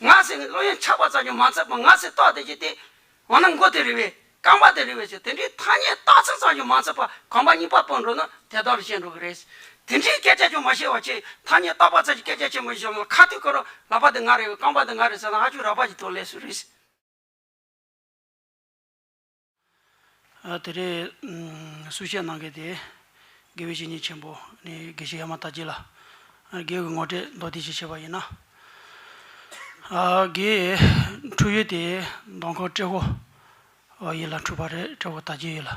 ང་ཟེར་ནས་བློ་ཡང་ཆགས་པ་ཙམ་ཡང་མ་ཚར་བར་ང་ཟེར་ཏོག་དེ་བྱས་ཏེ། འོ་ན་མགོ་དེ་རི་བས། རྐང་པ་དེ་རི་བས་ཟེར་དེ་འདྲའི་ཐ་སྙད་བཏགས་ཚུལ་ཙམ་ཡང་མ་ཚར་བར་གོམ་པ་གཉིས་པ་སྤོས་འགྲོ་ན་དེ་ལྟར་བཤད་འགྲོ་གི་རེད། དེ་འདྲའི་སྐད་ཆ་ཅུང་མ་བཤད་བར་ཆེས་ཐ་སྙད་བཏགས་པ་ཙམ་གྱི་སྐད་ཆ་ཆེན་པོ་ཞིག་བཤད་ན་ཁ་ཐུག་ཁོ་རང་ལག་པ་དེ་ང་རི་བས་རྐང་པ་དེ་ང་རི་ཟེར་ན་ཧ་ཅུང་རགས་པ་ཞིག་ཐོན་སླད་སུ་རེད། དེ་རེས་གསུས་བཤད་གནང་གལ་ཏེ། དགེ་བའི་བཤེས་གཉེན་ཆེན་པོ་ནི་དགེ་བཤེས་ཡ་མ་དྷ་རྗེ་ལ། དགེ་བའི་ངོ་སྤྲད་མདོ་སྡེ་ཞེས་བྱ་བ་ཡིན། དགེ་འཕྲུལ་ཡུལ་དེ་མདོ་འཁོར་ཏྲེ་བོ་ཡིད་ལ་འཁྲུལ་པ་རེད་ཏྲེ་བོ་དར་རྒྱས་ཡིད་ལ།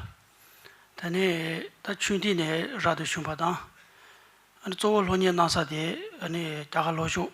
དེ་ནས་ད་ཆུང་དུས་ནས་ར་དུ་བྱུང་བ་དང། གཙོ་བོ་ལྷོ་གཉེར་གནང་ས་དེ་རྒྱ་གར་ལྷོ་ཕྱོགས་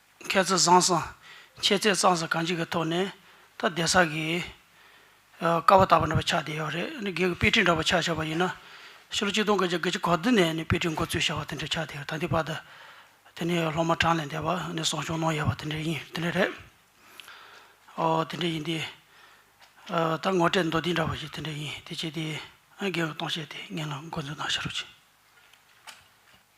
མཁས་བཙུན་བཟང་གསང། མཆེད་རྩལ་གཙང་སེལ་གང་ཅིའི་གི་ཐོག་ནས། ད་གདན་ས་གི། ཀ་བ་དག་པ་འདྲ་པོ་ཆགས་བསྡད་ཡོད་རེད་ནི་སྒེར་གི་དཔེ་ཁྲིད་འདྲ་པོ་ཆགས་ཆགས་པ་ཡིན་ན། ཕྱི་ལོ་གཅིག་སྟོང་དགུ་བརྒྱ་དགུ་བཅུ་གོ་བདུན་ནས་ནི་དཔེ་ཁྲིད་འགོ་བཙུགས་ཞེས་པ་དེ་འདྲ་ཆགས་བསྡད་ཡོད་ད་ལྟའི་བར་དུ། དེ་ནི་སློབ་མ་གྲངས་ལས་འདས་པ་ནི་གསོ་སྐྱོང་གནང་ཡོད་པ་དེ་འདྲ་ཡིན་དེ་འདྲ་རེད། ཨོ་དེ་འདྲ་ཡིན་ཏེ། ད་ངོ་སྤྲད་མདོ་འདི་འདྲ་བ་ཞིག་དེ་འདྲ་ཡིན་དེ་བྱས་ཏེ། སྒེར་གྱི་སྟོང་བཤད་དེ་ངེད་ལ་འགོ་འཛུགས་གནང་ཤེས་རོགས་གྱིས།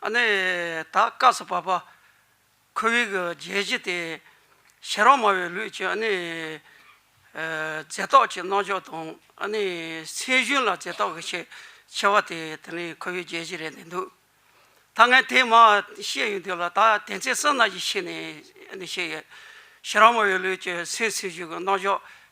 ཨ་ནི་ད་སྐབས་སུ་བབ་པ། ཁོ་བོའི་གི་རྒྱལ་བྱེད་དེ། ཤེས་རབ་སྨྲ་བའི་ལུས་ཀྱི་ཨ་ནི། རྫས་རྟོག་ཅིང་རྣལ་འབྱོར་དང་ཨ་ནི། སེམས་གཞུང་ལ་རྫས་རྟོག་གི་ཆེད་ཆེ་བ་དེ་དེ་ནི་ཁོ་བོའི་རྒྱལ་བྱེད་རེད་འདི་འདུག། ད་ངས་དེ་མ་ཤེས་ཡོད་དུས་ལ་ད་དེ་ཚེ་བསོད་ནམས་ཀྱི་ཤེས་ནས་ཤེས་ཡོད། ཤེས་རབ་སྨྲ་བའི་ལུས་ཀྱི་སེམས་སེམས་གཞུང་གི་རྣལ་འབྱོར་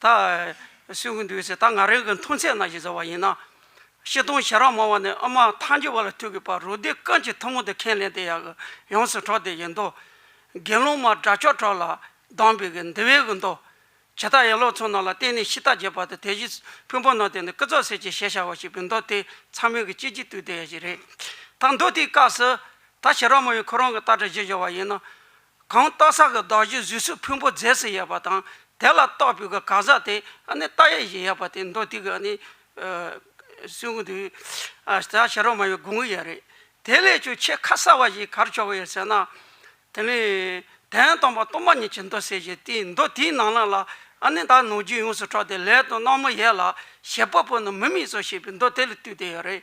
ད་གསོན་གྱི་འདུག་ཟེར་ད་ང་རང་གི་མཐོང་ཚད་ན་ཞེས་ཟེར་བ་ཡིན་ན། ཤེས་སྟོང་ཞེ་རག་མང་བ་ནི་ཨ་མ་ཐང་རྒྱལ་བ་ལ་ཐུག་གི་པར་རོ་སྡེ་ཀན་གྱི་ཐུན་མོང་དུ་ཁས་ལེན་དེ་ཡག་གི་ཡོངས་སུ་གྲོགས་དེ་ཡིན་མདོག། དགེ་སློང་མ་དགྲ་ཕྱོགས་གྲོགས་ལ་སྡང་བས་ཀྱི་འདི་བས་ཀྱི་མདོག། བྱེ་ཐག་ཡན་ལོག་ཚོགས་རྣམས་ལ་བརྟེན་ནས་ཤི་ཐག་བརྗེད་པ་དང་དེ་བཞིན་ཕུན་པོ་རྣམས་དེ་ནི་ཀི་ཙོག་སེར་གྱི་ཞལ་ཤར་བ་ཞིག་པའི་མདོག་དེ་ཚང་མིང་གི་སྐྱེས་ཀྱི་དུས་དེ་ཡ་ཞིག་རེད། ད་མདོ་དེའི་སྐབས་སུ། ད་ཤེས་རབ་མོ་ཡིས་ཁོ་རང་གི་སྟག་སྒྲ་བཞི་བཞག་བ་ཡིན་ན། གང་རྟ་ཟ་གི་བདག་བཞི་བཟོས་སུ་ཕུང་པོ་རྫས་སུ་ཡལ་བ་དང། དེ་ལ་རྟག་པུས་གི་གང་ཟག་དེ་རྟ་ཡེ་ཞིག་ཡལ་བ་དེ་མདོ་སྡིག་གི་སྲིན་གུང་དུ་ཟ་ཞེས་རོ་མ་ཡི་དགུང་གི་ཡལ་རེད། དེ་ལས་ཀྱང་ཆེས་ཁ་གསལ་བ་ཞིག་གར་ཆོག་གི་ཡོད་ཟེར་ན། དེ་ནི་དན་སྟོང་པ་སྟོང་པ་ཉིད་ཀྱི་མདོ་གསལ་ཞིག་དེའི་མདོ་དེའི་ནང་ལ་ལ་ཨ་ནི་བདག་ནོར་རྒྱུན་ཡོངས་སུ་གྲོགས་ཏེ་ལས་དང་སྣང་མུ་ཡལ་ལ་ཞེས་པ་པོ་ནི་མི་དམིགས་སོ་ཞེས་པའི་མདོ་དེ་ལ་བཏུས་ཏེ་ཡོད་རེད།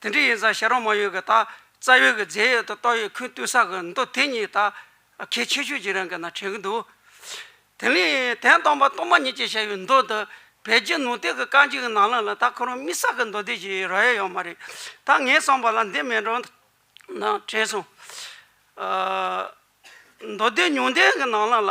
དེ་འདྲ་ཡིན་ཙང་ཤ་རོགས་མ་ཡོད་གི་ད་རྩ་ཡོད་གི་རྫས་ཡོད་དོ་ཏོག་ཡོད་ཁུན་བཏུས་ས་གི་འདུག་དེ་གཉིས་ད་གལ་ཆེ་ཤོས་ཀྱི་རང་གི་ན་དྲན་གི་འདུག་དེ་ལས་དན་སྟོང་པ་སྟོང་མ་ཉིད་ཅེས་བྱ་བའི་མདོ་འདི་བལ་རྗེ་ནུ་སྟེགས་ཀྱི་རྐང་གཅིག་གི་ནང་ལ་ལ་ད་ཁོ་རང་རྨིས་ས་གི་མདོ་སྡེ་བཞིའི་རོ་ཡ་ཡོད་མ་རེད་ད་ངས་གསུངས་པ་ལ་འདི་མེད་འགྲོ་ན་དྲན་སོང། མདོ་སྡེ་ཉུང་ལྡན་གྱི་ནང་ལ་ལ།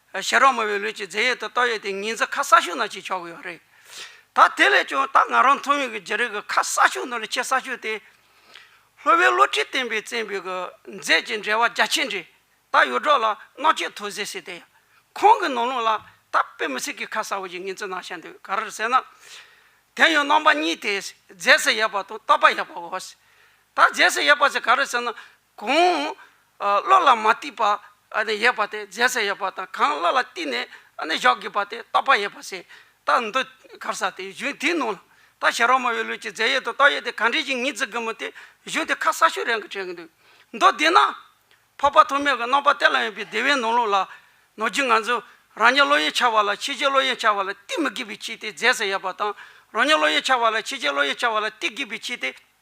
ཤ་རོགས་མོ་བའི་ལུས་ཀྱི་རྫས་ཡོད་དོ་ལྟོ་ཡོད་དེ་ངེད་ཚོ་ཁ་གསག་ཤུག་ནང་བྱེད་ཆོག་གི་ཡོད་རེད། ད་དེ་ལས་ཀྱང་ད་ང་རང་མཐོང་ཡོད་ཀྱི་རྗེ་རིགས་ཀྱི་ཁ་གསག་ཤུག་ནང་ལས་ཆེས་གསག་ཤུག་དེ། ལྷོ་བོའི་བློ་ཁྲིད་བསྟན་པའི་བཙན་པོའི་གི་རྫས་ཀྱི་འབྲེལ་བ་རྒྱ་ཆེ་འདྲེ། ད་ཡོད་སྒྲོག་ལ་མནོག་ཆས་ཐོ་ཟེར་སྲིད་དེ། ཁོང་གི་ནང་ལུང་ལ་ད་དཔེ་མི་སྲིད་ཀྱི་ཁ་གསག་བོ་ཞིག་ངེད་ཚོའི་ནང་བཤད་འདུག་ག་རེ་རེད་ཟེར་ན། དེ་ཡང་རྣམ་པ་གཉིས་དེ། རྫས་སུ་ཡོད་པ་དང་ལྟོ་པ་ཡོད་པའོ། ད་རྫས་སུ་ཡོད་པ་ཟེར་ག་རེ་ཟེར་ན། གོང་བློ་ལ་མ་བསྟིས་པ་ཡས་པ་སྟེ་རྫས་སེ་ཡས་པ་དང་གང་བློ་ལ་བསྟིས་ནས་བཞག་དགོས་པ་སྟེ་རྟག་པ་ཡས་པ་སེ་རྟག་འདུ་གར་ས་སྟེ་གཞུང་དེའི་ནང་ལ་རྟག་ཞལ་རོ་མ་བའི་ལུས་ཀྱི་རྫས་ཡས་དང་རྟག་ཡས་དེ་ག་འདྲའི་ཞིང་ཉིད་བརྩི་དགོས་མོད་དེ་གཞུང་དེ་ཁ་ས་ཤུ་རན་གྱི་དྲན་གྱི་འདུག་མདོ་སྡེ་ན། འཕགས་པ་ཐོགས་མེད་ཀྱི་རྣམ་པ་གཏད་ལ་ཡོད་པའི་སྡེ་བའི་ནང་ལུགས་ལ། ནོར་གྱི་ངང་ཚུལ་རང་ཉིད་བློ་ཡས་འཆར་བ་ལ་ཕྱི་རྒྱལ་བློ་ཡས་འཆར་བ་ལ་བསྟི་མི་དགོས་པའི་ཕྱིར་ཏེ་རྫས་སེ་ཡས་པ་དང། རང་ཉིད་བློ་ཡས་འཆར་བ་ལ་ཕྱི་རྒྱལ་བློ་ཡས་འཆར་བ་ལ་བསྟི་དགོས་པའི་ཕྱིར་ཏེ།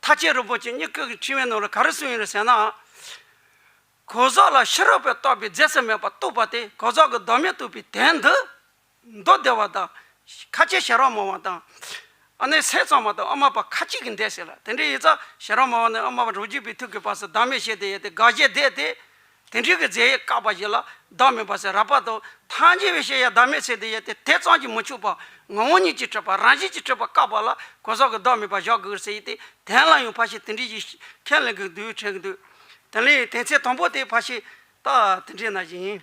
ཐ་ཆད་རིན་པོ་ཆེ་གཉིས་སྐུ་གི་ཕྲེང་བའི་ནང་ལ་ག་རེ་གསུངས་ཡོད་རེད་ཟེར་ན། གོ་ཟོག་ལ་ཕྱི་རོལ་པས་རྟོགས་པའི་རྫས་སུ་མེད་པར་གཏུགས་པ་དེ་གོ་ཟོག་གི་བདག་མེད་གཏུགས་པའི་དོན་འདི། མདོ་སྡེ་བ་དང། ཁ་ཆེ་ཞལ་རོ་མོ་བ་དང། ཨ་ནེ་ཟས་གཙང་མ་དང་ཨ་མ་པ་ཁ་ཅིག་གིས་འདས་ཟེར་ལ་དེ་འདྲའི་ཡིག་ཚགས་ཞལ་རོ་མོ་བ་ནི་ཨ་མ་པ་རོ་རྒྱུད་པའི་ཐུགས་ཀྱི་བར་སུ་བདག་མེད་བཤད་དེ་ཡོད་དེ་དགག་བཞེད་བསྡད་དེ། དེ་འབྲེལ་གྱི་རྫས་ཡས་བཀག་པ་བཞི་ལ་བདག་མེད་པ་སེ་ར་པ་དང། ཐམས་ཅད་པའི་ཤེས་ཡས་བདག་མེད་ཚེ་དེ་ཡས་ཏེ་དེ་ཙམ་གྱིས་མི་ཆོད་པ། ངོ་བོ་ཉིད་ཀྱིས་སྤྲོས་པ་རང་བཞིན་གྱིས་སྤྲོས་པ་བཀག་པ་ལ་གོ་ས་གི་བདག་མེད་པ་བཞག་གིར་ཟེ་ཡིས་ཏེ་དན་ལ་ཡང་ཕ་ཤེས་དེ་འབྲེལ་གྱི་ཁས་ལེན་གྱི་འདུས་བྱས་འདུས། དེ་ལས་དེ་ཚེ་དང་པོ་དེ་ཕ་ཤེས། རྟགས་དེ་འབྲེལ་ན་བཞིན།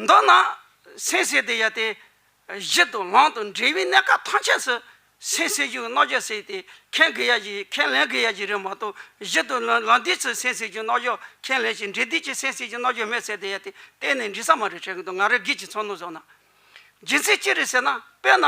མདོར་ན་སེམས་བསྲེགས་ཏེ་ཡལ་ཏེ། གཞི་དང་ལམ་དང་འབྲས་བུའི་གནས་སྐབས་ཐམས་ཅད་སུ། སེམས་བསྲེགས་རྒྱུའི་རྣོ་སྦྱོར་བསྲེགས་ཏེ་ཁས་ལེན་གྱི་ཡ་གྱི་རིགས་མ་གཏོགས་གཞི་དང་ལམ་འདིས་སུ་སེམས་བསྲེགས་རྒྱུའི་རྣོ་སྦྱོར་ཁས་ལེན་ཞིང་འབྲས་འདིས་ཀྱི་སེམས་བསྲེགས་རྒྱུའི་རྣོ་སྦྱོར་མེད་ཟེར་ཏེ་ཡལ་ཏེ་གཏན་ནས་འདྲི་ས་མ་རེད་བྲལ་གྱི་འདུག་ང་རེ་སྒིག་ཅིག་ཚོར་སྣང་བཟོ་ན། རྒྱུ་མཚན་ཅི་རེད་ཟེར་ན་དཔེར་ན།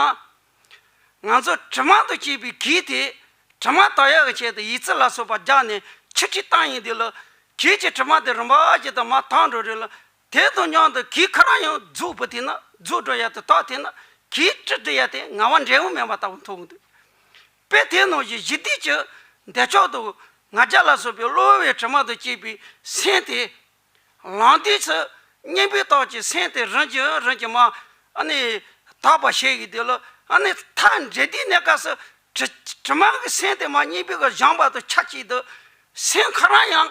ང་ཚོ་དྲི་མ་དང་བཅས་པའི་གེགས་དེས་དྲི་མ་དག་ཡལ་བའི་ཆེད་དུ་ཡིད་རྩེ་ལ་སོགས་པ་རྒྱག་ནས་ཆིག་ཁྲིས་བཏང་ཡིན་དུས་ལ། གེགས་ཀྱི་དྲི་མ་དེ་རིམ་པ་ཅིག་དང་མ་དག་འགྲོ་རེས་ལ། དེ་དང་མཉམ་དུ་གིའི་ཁ་རང་ཡང་རྫུ་བུ་དེ་ན་རྫུ་འགྲོ་ཡ་དེ་དག་དེ་ན་གིའི་ཀྲི་ཀྲི་ཡ་དེ་ང་བ་འབྲས་བུ་མེད་པ་ལྟ་བུ་མཐོང་གི་འདུག་དཔེ་དེ་ནང་བཞིན་གཞི་སྡིག་གི་འདས་ཆོག་ཏུ་ང་རྒྱ་ལ་སོགས་པའི་གློ་བུར་བའི་དྲི་མ་དང་བཅས་པའི་སེམས་དེ། ལངས་དུས་སུ་གཉེན་པོའི་རྟགས་ཀྱི་སེམས་དེ་རིམ་གྱིས་རིམ་གྱིས་མ་ནི་དག་པར་བྱེད་ཀྱི་འདུག་ལ་ཨ་ནི་མཐའ་འབྲས་དེའི་གནས་སྐབས་སུ་དྲི་མ་གི་སེམས་དེ་མ་གཉེན་པོའི་གཞང་བར་དུ་ཆ་གཅིག་ཏུ་སེམས་ཁ་རང་ཡང་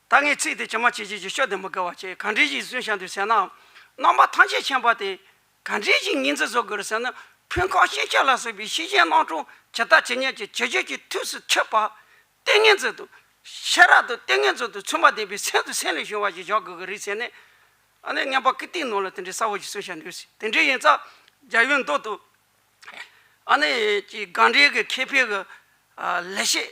ད་ངས་ཚིག་དེ་ཇི་མ་ཇི་བཞིན་གྱིས་ཤོད་དེ་མི་དགའ་བ་བྱས། གང་དྲིན་ཅིག་གསོན་བྱ་འདོད་ཟེར་ནའང། རྣམ་པ་ཐམས་ཅད་མཁྱེན་པ་དེས། གང་དྲིན་ཅིག་སྙིང་རྗེ་བཟོ་དགོས་རེད་ཟེར་ན། ཕུན་ཁང་ཤེས་བྱ་ལ་སོགས་པའི་ཤེས་བྱའི་སྣང་གྲོང་ཇི་ལྟ་ཇི་སྙེད་ཀྱི་བྱེད་སྤྱོད་ཀྱི་དུས་སུ་འཁྱོལ་བ། ལྟས་ངན་མཛོད་དུ། ཤེས་རབ་དང་ལྟས་ངན་མཛོད་དུ་མཚོན་པ་ལྡན་པའི་སེམས་དང་སེམས་ལས་བྱུང་བ་ཞིག་བཞག་དགོས་ཀྱི་རེད་ཟེར་ནས། ཨ་ནེ་རྔན་པ་ཀི་ཏིའི་ནང་ལ་དེ་འདྲའི་གསར་བུ་ཞིག་གསོན་བྱ་འདོད་ཟེར། དེ་འདྲའི་ཡིན་ཙང། རྒྱ་ཡུལ་མདོ་དུ། ཨ་ནེ་ཀྱི་སྒང་འདྲེ་གི་ཁེ་ཕན་གྱི། ལས་བྱེད།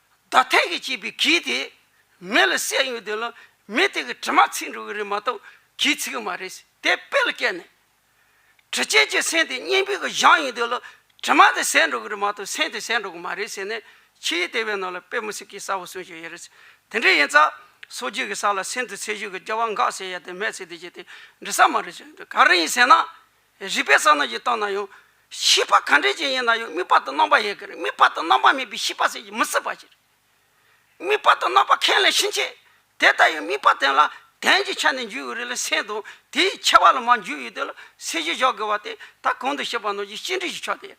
བདག་ཐེག་གིས་བསྐྱེད་པའི་གིས་དེ། མེ་ལ་བསྲེགས་ཡོད་དོན་ལ། མེ་དེ་གི་དྲི་མ་ཚིག་འགྲོ་གི་རེད་མ་གཏོགས་གིས་ཚིག་གི་མ་རེད་ཟེར་དེ་དཔེ་ལ་བཀལ་ནས། དྲི་ཆེན་གྱི་སེན་དེ་སྙིང་པོའི་གི་གཞང་ཡིན་དོན་ལ། དྲི་མ་དེ་ཟད་འགྲོ་གི་རེད་མ་གཏོགས་སེན་དེ་ཟད་འགྲོ་གི་མ་རེད་ཟེར་ནས་ཕྱིའི་ལྟེ་བའི་ནང་ལ་དཔེ་མི་སྲིད་ཀི་གསལ་བོ་གསུངས་ཀྱི་ཡོད་རེད་ཟེར། དེ་འདྲ་ཡིན་ཙང། སོ་རྒྱུས་ཀྱི་ས་ལ་སེན་དུ་ཚེ་ཤུལ་གྱི་སྐྱེ་བ་འགགས་ཟེར་ཡ་དེ་སྨྲས་ཚེ་དེ་རྗེས་དེ་འདྲི་ས་མ་རེད་ཟེར་ག་རེ་ཡིན་ཟེར་ན། རིག་པའི་ས་ནོར་གྱིས་སྟོང་ན་ཡང། ཤེས་པ་གང་དྲན་ཅན་ཡིན་ན་ཡང་དམིགས་པ་དང་རྣམ་པ་ཡི་གེ་རེ་དམིགས་པ་དང་རྣམ་པ་མེད་པའི་ཤེས་པ་ཟད་ཀྱི་མི་སྲིད་པ་ཅིག། དམིགས་པ་དང་རྣམ་པ་ཁས་ལེན་ཕྱིན་ཆད་དེ་ལྟ་ཡང་དམིགས་པ་དེ་ལ་དན་གྱི་ཆ་ནས་འཇུག་ཡོད་རེ་ལ་སེམས་དང་དེའི་ཁྱད་པར་ལ་མ་འཇུག་ཡོད་དེ་ལ་སེམས་ཞེས་བཞག་དགོས་པ་དེ་ད་གོང་དུ་བཤད་པ་ནོར་གྱི་སྤྱི་འགྲེལ་གྱི་ཕྱོགས་དེ།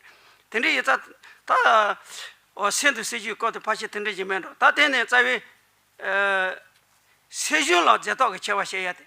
དེ་འདྲའི་ཡོད་ཚད་ད། འོ་སེམས་དང་སེམས་བྱུང་སྐབས་དེ་ཕར་ཕྱིན་དེ་འདྲའི་རྗེས་མེད་འགྲོ་ད་དེ་ནས་རྩ་བའི། སེམས་བྱུང་ལ་རྫས་རྟོག་གི་ཁྱད་པར་བཤད་ཡ་དེ།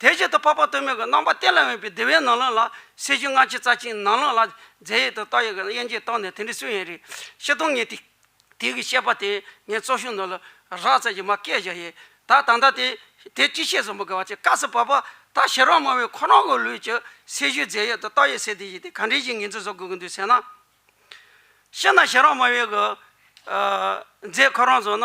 དེ་བཞིན་དུ་འཕགས་པ་སྟོད་སྨད་ཀྱི་རྣམ་པ་གཏན་ལ་དབེན་པའི་བདེ་བའི་ནང་ལོགས་ལ་སྲིད་ཞུའི་སྔགས་ཀྱིས་རྩ་ཆེན་ནང་ལོགས་ལ་རྫས་ཡོད་དོ་རྟགས་ཡོད་ཀྱི་དབྱེ་འབྱེད་བརྟགས་ནས་དེ་འདྲའི་སུན་ཡིན་རེ་ཤི་སྟོང་ངེ་ཏིག་ཏིག་གིས་བཤད་པ་དེ་ངས་གཙོ་བཞིན་ནོ་ལ་རགས་ཙམ་གྱིས་མ་སྐད་བཞག་ཡས་ད་ད་ལྟ་དེ་དེ་ཅི་བཤད་བཟོ་མི་དགའ་བ་ཅི་དཀའ་སི་བབ་པ་ད་ཤི་རོ་མ་བས་ཁོ་རང་གི་ལུས་ཀྱི་སྲིད་ཞུའི་རྫས་ཡོད་དོ་རྟགས་ཡོད་ཟེར་དེ་བཞིན་དེ་ག་འདྲའི་བཞིན་ངེས་འཛིན་བཟོ་དགོས་ཀྱི་འདུག་ཟེར་ན། ཤི་ན་ཤི་རོ་མ་བས་གི་རྫས་ཁོ་རང་བཟོ་ན་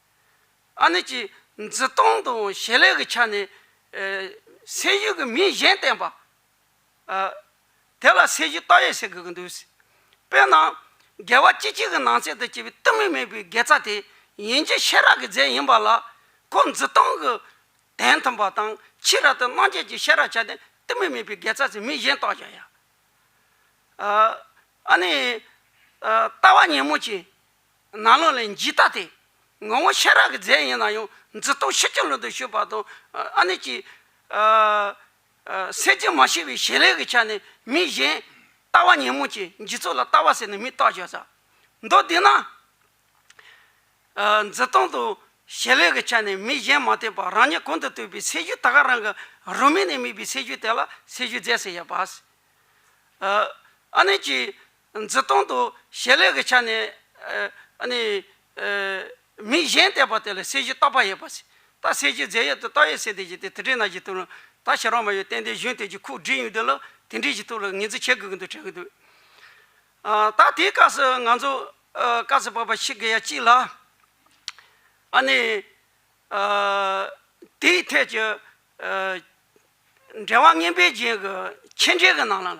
ཨ་ནི་ཀྱིས་འཛི་སྟངས་དང་བྱེད་ལས་ཀྱི་ཆ་ནས་སེར་བྱེས་ཀྱི་མིང་གཞན་བསྟན་པ། དེ་ལ་སེར་བྱེས་རྟ་ཡོས་ཟེར་དགོས་ཀྱི་འདུག་ཟེར། དཔེར་ན། རྒྱལ་བ་སྐྱིད་ཆེན་གྱི་ནང་ཚན་དུ་སྐྱེས་པའི་གཏི་མུག་མེད་པའི་དགེ་རྩ་དེ་ཡིན་གྱི་ཤེས་རབ་ཀྱི་རྫས་ཡིན་པ་ལ། ཁོ་འཛི་སྟངས་ཀྱི་དན་མཐུན་པ་དང་ཕྱི་རབ་ཏུ་སྣང་བཅས་ཀྱི་ཤེས་རབ་བྱ་སྟེ་གཏི་མུག་མེད་པའི་དགེ་རྩ་ཟེར་མིང་གཞན་བཏགས་བཞག་ཡ། ཨ་ནི། ལྟ་བ་ཉིན་མོ་བྱིན། ནག་ལོ་ལས་འཇིག་ལྟ་སྟེ། ངོ་བོ་ཤེས་རབ་ཀྱི་རྫས་ཡིན་ན་ཡང་འཛིན་རྟོག་ཕྱི་རྐྱེན་ལུས་དང་ཞུགས་པ་དང། ཨ་ནི་ཅི། སེམས་ཅན་མ་ཤེས་པའི་ཞེན་ལས་ཀྱི་ཆ་ནས་མི་གཞན། ལྟ་བ་ཉོན་མོངས་ཅན་འཇིག་ཚོགས་ལ་ལྟ་བ་ཟེར་ནས་མི་རྟག་བཞག་ས། མདོ་འདི་ན། འཛིན་སྟོང་དང་ཞེན་ལས་ཀྱི་ཆ་ནས་མི་གཞན་མ་བལྟས་པར་རང་ཉིད་གོང་དུ་བཏུས་པའི་སའི་ཤུལ་ད་གའ་རང་གི་རུ་མིག་ནས་དམིགས་པའི་སའི་ཤུལ་དེ་ལ་སའི་ཤུལ་རྫས་ཟེར་ཡ་བ། ཨ་ནི་ཅི། འཛི་སྟོང་དུ་བྱེད་ལས་ཀྱི་ཆ་ནས་མི་གཞན་བལྟས་པ་དེ་ལ་གསལ་བྱེད་རྟག་པ་ཡོད་པ། རྟགས་གསལ་བྱེད་རྫས་ཡོད་དུ་རྟགས་ཡོད་ཟེར་དེ་བཞིན་དེ་དེ་འདྲའི་ན་གཞི་དུ། ད་ཤེས་རང་མ་ཡོད་གཏན་བདེའི་གཞུང་དེ་བཞིན་ཁུག་བསྒྲིགས་ཡོད་དུས་ལ་དེ་འདྲའི་གཞི་ཐུགས་ལ་ངེས་འཛིན་བྱེད་དགོས་ཀྱི་འདུག་དྲན་གྱི་འདུག། ད་དེའི་སྐབས་སུ་ང་ཚོ་བཀའ་བསྩལ་པ་པ་ཤི་གི་ཡ་གཅིག་ལ། དེའི་ཐད་ཀྱི་འགྲེལ་བ་ངན་པའི་རྒྱན་གྱི་ཁྱེད་འགྲེལ་གྱི་ནང་ལ།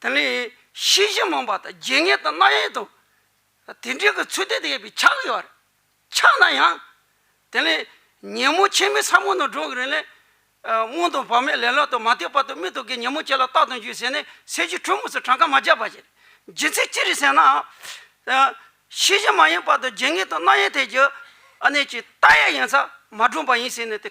དེ་ནས་ཤེས་བྱའི་མངས་པ་དང་བརྗེད་ངས་དང་རྣ་ཡལ་དང། དེ་འདྲའི་གི་ཚུལ་དེ་དེ་ཡོད་པའི་ཆ་གི་ཡོད་རེད། ཆགས་ན་ཡང། དེ་ནས་ཉིན་མོ་ཕྱི་མའི་ས་མོ་ནང་འགྲོ་གི་རེད་ནས། སྔོན་དང་བར་མའི་ལེ་ལག་དང་མ་ལྟོས་པ་དང་མི་ལྟོས་ཀྱི་ཉིན་མོ་ཁྱེད་ལ་བརྟག་དང་རྒྱུ་ཟེར་ནས་ཟས་ཀྱི་དྲོད་མོ་སོ་གྲངས་ཀ་མ་བརྒྱབ་པ་ཞིག་རེད། རྒྱུ་མཚན་ཅི་རེད་ཟེར་ན། ཤེས་བྱ་མ་ཡིན་པ་དང་བརྗེད་ངས་དང་རྣ་ཡལ་ཐད་ཀྱི། ཨ་ནེ་ཅིག་རྟ་ཡལ་ཡིན་ཚ་མ་སྒྲོན་པ་ཡིན་ཟེར་ནས་དེ་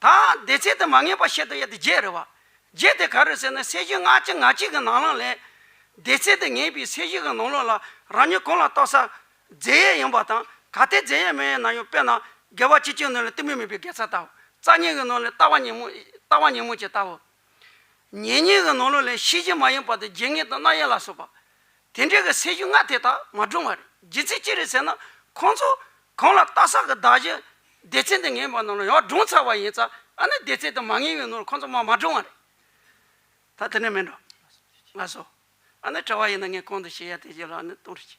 དང། བདེ་ཚད་དུ་མ་ངེས་པར་ཤེས་དང་ཡ་དེ་བརྒྱད་རེད་བ། བརྒྱད་དེ་ག་རེད་ཟེར་ན་སའི་གཞི་ལྔ་གཅིག་ང་གཅིག་གི་ནང་ལ་ལས། བདེ་ཚད་དུ་ངེས་པའི་སའི་གཞི་གི་ནང་ལོགས་ལ་རང་ཉིད་གང་ལ་རྟོག་ས། རྫས་ཡས་ཡིན་པ་དང་ག་དེ་རྫས་ཡས་མ་ཡས་ན་ཡང་དཔེར་ན་བརྒལ་བ་གཅིག་ཅིག་ནང་ལ་གཏི་མུག་མེད་པའི་བརྒལ་ས་ལྟ་བུ། རྩ་གཉིས་ཀྱི་ནང་ལ་ལྟ་བ་ཉིན་མོ། ལྟ་བ་ཉིན་མོ་བྱེད་ལྟ་བུ། ཉེ་གཉིས་ཀྱི་ནང་ལོགས་ལ་ཤེས་བཞིན་མ་ཡིན་པ་དང་བརྗེད་ངེས་དང་རྣ་ཡས་ལ་སོགས་པ། དེ་འདྲའི་གི་སྲས་ཞུ་ལྔ་དེ་དག་མ་བགྲུང་བར་རྒྱུ་མཚན་ཅི་རེད་ཟེར་ན། ཁོང་ཚོ་གང་ལ་རྟག་སག་གི་བདག་གཞན་སྡེ་ཚན་དེ་ངན་པ་ནང་ལ་ཡང་བགྲུང་ཚར་བ་ཡིན་ཙ་ཨ་ནི་སྡེ་ཚན་དེ་མ་ངན་བའི་ནང་ལ་ཁོང་ཚོ་མ་མ་བགྲུང་བ་རེད། ད་དེ་ནས་མིན་འགྲོ། ང་སོ། ཨ་ནི་བྲེལ་བ་ཡིན་ན་ངས་གང་དུ་བཤད་ཡ་དེ་བཞིན་ལ་ཨ་ནི་གཏོང་རེ་བྱས།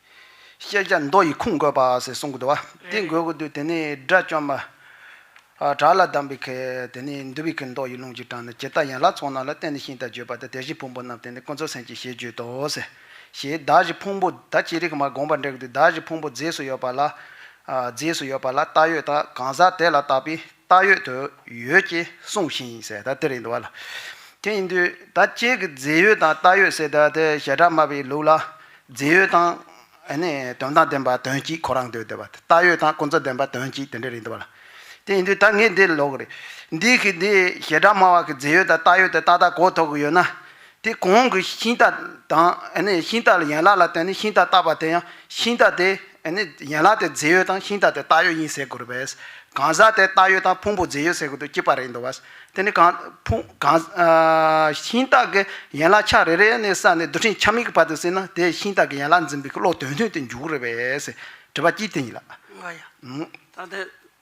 ཤེས་བྱ་མདོ་ཡི་ཁུངས་བཀོད་པ། ཞེས་གསུངས་གོ། དེ་འགོད་གོ། དེ་ནས་དགྲ་བཅོམ་པ། བྲག་ལ་བསྡམས་པའི་ཁལ། དེ་ནས་འདུལ་བའི་ཁལ་མདོ་ཡི་རླུང་གིས་དྲངས་ནས་ཇི་ལྟར་ཡན་ལག་ཚོགས་རྣམས་ལ་བརྟེན་ནས་ཤིང་དང་བརྗོད་པ་དང་དེ་བཞིན་ཕུང་པོ་རྣམས་བརྟེན་ནས་ཀུན་རྫོབ་སེམས་ཀྱིས་ཞེས་བརྗོད་དོ། ཞེས་བདག་གཞི་ཕུང་པོ་ད་ཅི་རིགས་མ་དགོངས་པར་འགྲེལ་གོ། བདག་གཞི་ཕུང་པོ་རྫས་སུ་ཡོད་པ་ལ། རྫས་སུ་ཡོད་པ་ལ་བཏགས་ཡོད་དང་གང་ཟག་དེ་ལ་བཏགས་པས་བཏགས་ཡོད་དུ་ཡོད་ཅེས་གསུངས་ཤིང་གསལ་བརྡ་སྟེར་ཡི་འདུག་བ་ལ། དེ་ཡིན་དུས་ད་སྤྱིའི་གི་རྫས་ཡོད་དང་བཏགས་ཡོད་ཟེར་ཟླ་དེ་ཞེ་དྲག་སྨྲ་བའི་ལུགས་ལ། རྫས་ཡོད་དང། ནི་དོན་དང་ལྡན་པ་དོན་གཅིག་ཁོ་རང་འདོད་དེ་བ། བཏགས་ཡོད་དང་ཀུན་རྫོབ་ལྡན་པ་དོན་གཅིག་དེ་འདྲ་རེད་འདུག་བ་ལ། དེ་ཡིན་དུས་ད་ངས་འདི་ལོག་རེད། འདིས་གི་འདི་ཞེ་དྲག་སྨྲ་བ་གི་རྫས་ཡོད་དང་བཏགས་ཡོད་དེ་ཏག་ཏག་གོ་ཐོག་གི་ཡོད་ན། དེ་གོང་གི་ཤིང་རྟ་དང་ཤིང་རྟ་ལ་ཡན་ལག་ལ་བརྟེན་ནས་ཤིང་རྟ་བཏགས་པ་དེ་ཡང་ཤིང་རྟ་དེ་ཡན་ལག་དེ་རྫས་ཡོད་དང་ཤིང་རྟ་དེ་བཏགས་ཡོད་ཡིན་ཟེར་དགོས་པས། གང་ཟག་དེ་བཏགས་ཡོད་དང་ཕུང་པོ་རྫས་ཡོད་ཟེར་དགོས་དུ་སྐྱེས་པ་རེད་འདུག་བ། དེ་ནི་གང་ཤིང་རྟ་གི་ཡན་ལག་ཆ་རེ་རེ་ནས་བསགས་ནས་རྡུལ་ཕྲན་ཁྱབ་མིག་གི་བར་དུ་བསྲེས་ན་དེས་ཤིང་རྟ་གི་ཡན་ལག་འཛིན་པའི་བློ་དོན་མཐུན་དུ་འཇུག་རེད་པས། དྲི་བ་གཅིག་དེ་ཡིན་ལགས།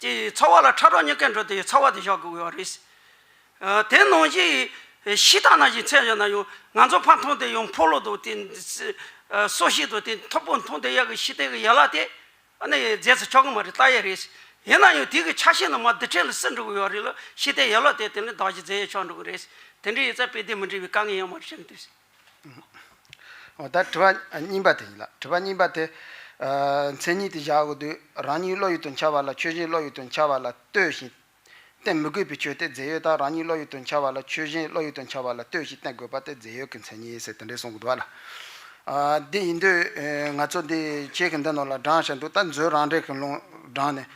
དེ་ཡི་ཚ་བ་ལ་ཁྲ་གྲོག་གཉིས་ཀས་འགྲོ་དེ་ཡི་ཚ་བ་དེ་གཞག་དགོས་རེད། དེ་ནང་བཞིན་ཤི་དང་ན་བཞིན་ཚད་བཞག་ན་ཡང་ང་ཚོ་ཕ་མཐོང་དེ་ཡང་འཕོ་ལོ་དང་དེ་སོ་ཤི་དང་དེ་མཐོ་པོ་མཐོང་དེ་ཡག་གི་ཤི་དེ་གི་ཡ་ལ་དེ་ཨ་ནི་རྫས་སུ་ཆགས་གི་མ་རེད་ལྟ་ཡས་རེད། ཡིན་ན་ཡང་དེ་གི་ཆ་ཤས་ནི་མ་དི་ཁྲེ་ལ་སི་འགྲོ་གི་ཡོད་རེད་ལ་ཤི་དེ་ཡ་ལ་དེ་དེ་ནི་བདག་གཞི་རྫས་ཡས་ཆགས་འགྲོ་གི་རེད། དེ་འདྲའི་ཡས་ཚ་དཔེ་དེ་མི་འདྲི་བའི་དཀའ་ངལ་ཡང་མ་རེད་བཤད་མི་ཐུབ། ད་དྲི་བ་གཉིས་པ་དེ་ཡིན་ལ་དྲི་བ་གཉིས་པ་དེ། མཚན་ཉིད་དེ་བཞག་གོ་དུས་རང་ཉིད་བློ་ཡུལ་དུ་འཆར་བ་ལ་ཆོས་གཞན་བློ་ཡུལ་དུ་འཆར་བ་ལ་ལྟོས་ཤིང། བསྟན་མི་དགོས་པའི་ཆོས་དེ་རྫས་ཡོད་དག་རང་ཉིད་བློ་ཡུལ་དུ་འཆར་བ་ལ་ཆོས་གཞན་བློ་ཡུལ་དུ་འཆར་བ་ལ་ལྟོས་ཤིང་བསྟན་དགོས་པ་དེ་རྫས་ཡོད་ཀྱི་མཚན་ཉིད་ཟེར་དེ་འདྲས་གསུངས་འདུག་ལ། འདི་ཡིན་དུས་ང་ཚོ་འདི་ཁྱེད་ཀྱི་འདི་ནོར་ལ་བགྲང་བཞིན་འདུག་ད་མཛོད་རང་འགྲེལ་གྱི་ལུང་དྲངས་ནས།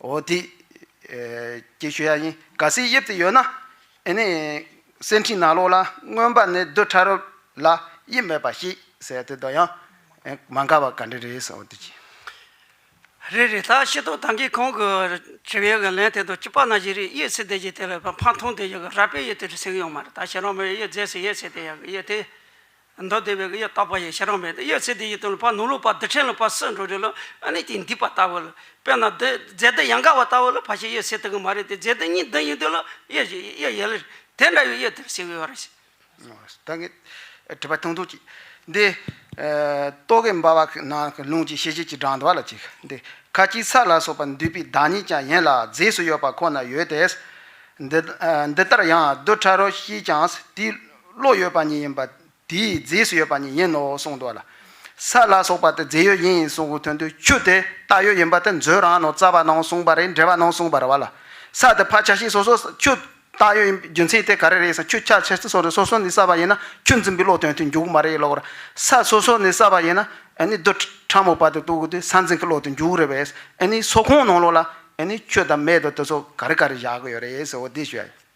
ཨོ་དེ། ཀྱེ་ཤུ་ཡ་ཡིན་ག་སའི་དབྱིབས་དེ་ཡོད་ན། ཨེ་ནས། སེར་འཕྲེང་ནག་ལོག་ལ་མངོན་པ་ནི་རྡུལ་ཕྲ་རབ་ལ་དབྱིབས་མེད་པ་ཞིག་ཟེར་དེ་དང་ཡང། མ་འགལ་བ་ག་འདྲ་རེད་ཟེར་བ་དེ་གྱིས། རེད་རེད་ད་ཤེས་རྟོགས་དང་གིས་གང་གི་ཁྱེད་ཡོད་གི་ལན་དེ་དང་ཅི་པ་ན་བཞིན་རིག་ཡེ་ཚེ་དེ་གྱིས་དེ་ལ་ཕ་མཐོང་དེ་ཡོད་གི་ར་པའི་ཡེ་དེ་རེད་ཟེར་གི་ཡོད་མ་རེད་ད་ཁྱེད་རང་མོའི་ཡེ་རྫས་སུ་ཡེ་ཚེ་དེ་ཡག་གི་ཡེ་དེ། མདོ་སྡེ་བའི་གཡས་བཏགས་པ་ཡི་ཤ་རང་བས་ནི་གཡས་ཚེ་འདི་ཡི་དོན་ལ་བར་ནུ་ལོ་བར་འདི་ཕྲན་ལ་བར་སྲིད་འགྲོ་རེ་ལ་ཨ་ནི་དེ་འདི་བར་ལྟ་བུ་ལ་དཔེར་ན་འདི་རྫས་འདི་ཡང་འགའ་བར་ལྟ་བུ་ལ་བར་ཞེས་གཡས་ཚེ་དེ་གི་མ་རེད་དེ་རྫས་འདི་གཉིས་འདི་ཡིན་དོན་ལ་གཡས་ཞེས་གཡས་ཡལ་ལེར་དེ་འདྲ་བའི་གཡས་དེར་ཞེས་བའི་བར། ད་གི། དྲི་བ་དང་དུག་ཅིག། འདི། ཏོག་གི་འབར་བ་ན་གི་རླུང་གི་ཤེས་བྱེད་ཀྱི་སྒྲ་འདུ་བ་ལ་ཅིག་འདི་ཁ་སྐྱིད་ས་ལ་སོགས་པ་འདུས་པའི་བདག་ཉིད་ཀྱང་ཡན་ལག་རྫས་སུ་ཡོད་པ་ཁོ་ན་ཡོད་དེ། འདི་ལྟར་ཡང་རྡུལ་ཕྲ་རོ་ཞིག་ཀྱང་དེའི་བློ་ཡོད་པ་ཉིད་ཡིན་པ། དེའི་རྫས་སུ་ཡོད་པ་ཉིད་ཡིན་ནོ་གསུངས་འདུག་ལ། ས་ལ་སོགས་པ་དེ་རྫས་ཡོད་ཡིན་གསུངས་ཀྱི་དོན་དུ་ཆུ་དེ་བཏགས་ཡོད་ཡིན་པ་དེ་མཛོད་རང་ནོར་རྩ་བ་ནང་གསུངས་པ་རེད་འགྲེལ་བ་ནང་གསུངས་པར་བ་ལ། ས་དེ་ཕ་ཆ་ཤས་སོ་སོ་ཆུ་བཏགས་ཡོད་ཡིན་པའི་རྒྱུ་མཚན་དེ་ག་རེ་རེད་ས་ཆུ་ཁྱག་ཆེ་སོ་རེ་སོ་སོ་ནས་བསགས་པ་ཡིན་ན་ཆུ་འཛིན་པའི་བློ་དོན་དུ་འཇུག་གི་མ་རེད་ལོག་ར། ས་སོ་སོ་ནས་བསགས་པ་ཡིན་ན་ཨཱ་ནི་རྡུལ་ཕྲ་མོ་བར་དུ་གཏུགས་གི་དུས་ས་འཛིན་གྱི་བློ་དོན་འཇུག་རེད་པས་ཨཱ་ནི་སོགས་ཁོང་ནང་ལོགས་ལ་ཨཱ་ནི་ཆུ་དང་མེ་དང་དེ་སོགས་ག་རེ་ག་རེ་བཞག་གི་ཡོད་རེད་ཟེར་བ་འདི་བཤད་ཡོད།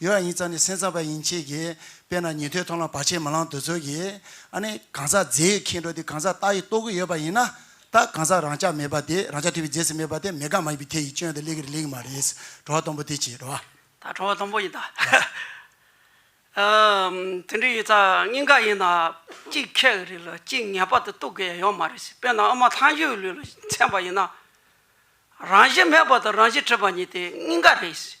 ཡོད་ཡིན་ཙང་ནི་སེམས་ཙམ་པ་ཡིན་ཆེད་ཀྱིས་དཔེར་ན་ཉན་ཐོས་མཐོང་ལ་བར་ཆད་མི་ལང་འདོད་ཚོད་ཀྱིས་ཨ་ནི་གང་ཟག་རྫས་ཡོད་མཁན་འགྲོ་དེ་གང་ཟག་རྟག་ཡིན་རྟོགས་གི་ཡོད་པ་ཡིན་ན་ད་གང་ཟག་རང་ཅག་མེད་པ་དེ་རང་ཅག་ཐོས་པའི་རྫས་སུ་མེད་པ་དེ་མེད་དགག་མ་ཡིན་པའི་ཐེ་ཡི་སྐྱོན་དེ་ལེགས་རེད་ལེགས་མ་རེད་ཟེར་བྲོ་བ་སྟོང་པོ་དེ་བྱེད་བྲོ་བ། ད་བྲོ་བ་སྟོང་པོ་ཡིན་ད། དེ་འདྲ་ཡིན་ཙང་སྙིང་ག་ཡིན་ན་གཅིག་ཁྱད་གི་རེད་ལ་གཅིག་ངེས་པར་དུ་རྟོགས་གི་ཡོད་མ་རེད་ཟེར་དཔེར་ན་ཨ་མ་ཐང་ཆུ་ཡི་ལུས་ལ་འཚེམ་པ་ཡིན་ན་རང་བཞིན་མེད་པ་དང་རང་བཞིན་བྲལ་བ་གཉིས་དེ་སྙིང་ག་རེད་ཟེར།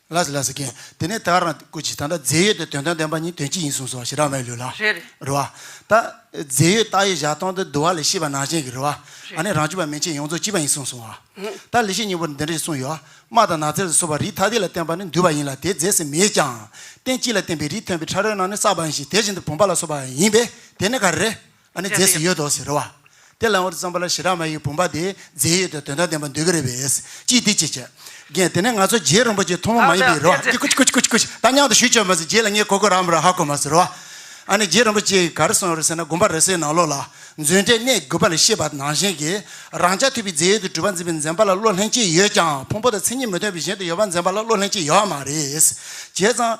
ལཱས་ལཱས་ཀན། དེ་ནས་དཱ་ར་ཀུ་ཅི་ད་ནི་རྫས་ཡོད་དུ་དོན་དོན་ལྡན་པ་ཉིད་དོན་ཅི་ཡིན་གསུངས་སོ་ཞེས་ར་མའི་ལུས་ལ། རེ་རེ། རུ་བ། ད། རྫས་ཡོད་རྟགས་ཡོད་བཞག་སྟོང་དུ་བསྡུ་བ་ལས་ཤེས་པ་ནང་བཞིན་གྱི་རུ་བ། ཨ་ནི་རང་བཅུ་པ་མན་ཆད་ཡོངས་རྫོགས་གཅིག་པ་ཡིན་གསུངས་སོང་བ། ད་ལི་ཤས་སྙིང་པོར་འདི་འདྲ་ཞིག་གསུངས་ཡོད། དམག་དང་ནགས་ཚལ་དུ་སོ་བ་རིའི་ཐ་དད་ལ་བརྟེན་པ་ནི་འདུས་པ་ཡིན་ལ་དེའི་རྫས་སུ་མེད་ཀྱང། རྟེན་གཅིག་ལ་བརྟེན་པའི་རིས་ཐོན་པའི་ཕྲ་རོལ་ནང་ནི་བསགས་པ་ཡིན་ཞིང་དེ་བཞིན་དུ་བུམ་པ་ལ་སོགས་པ་ཡིན་པས་དེ་ནི་ག་རེ་རེད། ཨ་ནི་རྫས་སུ་ཡོད་དོ་ཟེར་རོ། དེ་ལ་འོད་བརྩམས་པ་ལ་ཞི་རགས་མ་ཡི་བུམ་པ་དེ་རྫས་ཡོད་དོ་དོན་དང་ལྡན་པར་འདོད་ཀྱི་རེད་བས་ཅི་སྟེ་ཅེས་བྱ། རྒན། དེ་ནས་ང་ཚོ་རྗེ་རིན་པོ་ཆེ་ཐུང་མོ་མ་ཡིན་པའི་རོ། ཀྱི་ཀུཅ་ཀུཅ་ཀུཅ་ཀུཅ་ད་སྙམ་དུ་ཞུ་བྱ་མ་ཟེར་རྗེ་ལ་ངས་གོ་གོ་རག་མི་རག་ཧ་གོ་མ་ཟེར་རོ། ཨ་ནི་རྗེ་རིན་པོ་ཆེ་ག་རེ་གསུངས་རེད་ཟེར་ན་དགོན་པ་རེ་ཟའི་ནང་ལོགས་ལ་མཛོད་འགྲེལ་གནས་དགོས་པ་ལས་ཤེས་པ་ནང་བཞིན་གྱིས་རང་ཅག་ཐུབ་པའི་རྫས་ཡོད་དོ་གྲུབ་པ་འཛིན་པའི་འཛེམ་པ་ལ་བློ་ལྷན་སྐྱེས་ཡོད་ཀྱང་ཕུང་པོ་དང་མཚན་ཉིད་མི་མཐུན་པའི་གཞན་དུ་ཡོད་པ་འཛེམ་པ་ལ་བློ་ལྷན་སྐྱེས་ཡོད་མ་རེད། བྱས་ཙང།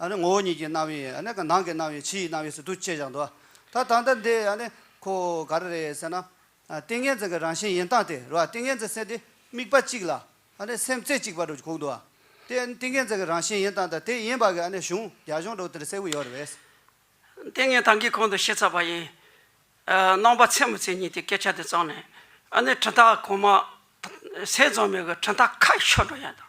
ངོ་བོ་ཉིད་ཀྱི་རྣ་བའི་ནང་གི་རྣ་བའི་ཕྱི་ཡི་རྣ་བའི་ཟུར་དུ་བཅད་བཞག་འདུག་ད་ད་ལྟ་འདི་ཁོ་ག་རེ་རེད་ཟེར་ན། ཏིང་ངེ་འཛིན་གྱི་རང་བཞིན་ཡིན་སྟངས་དེ་རུ་ཏིང་ངེ་འཛིན་སེམས་དེ་དམིགས་པ་གཅིག་ལ་སེམས་རྩེ་གཅིག་པ་རུ་གོ་འདུག་དེ་ཏིང་ངེ་འཛིན་གྱི་རང་བཞིན་ཡིན་སྟངས་དང་དེ་ཡིན་པ་གྱི་གཞུང་རྒྱ་གཞུང་གྲོགས་དེར་གསལ་བོ་ཡོད་རེད། ཏིང་ངེ་ཐང་གིས་གོང་དུ་བཤད་ཚར་བ་ཡིན། སྣང་བ་ཚད་མ་ཚད་གཉིས་དེ་སྐད་ཆ་དེ་གཙང་ནས། དྲི་རྟགས་གོང་མ་ཟས་རྫོང་མེད་གི་དྲི་རྟགས་ཁ་ཤོ་འགྲོ་ཡང་དང།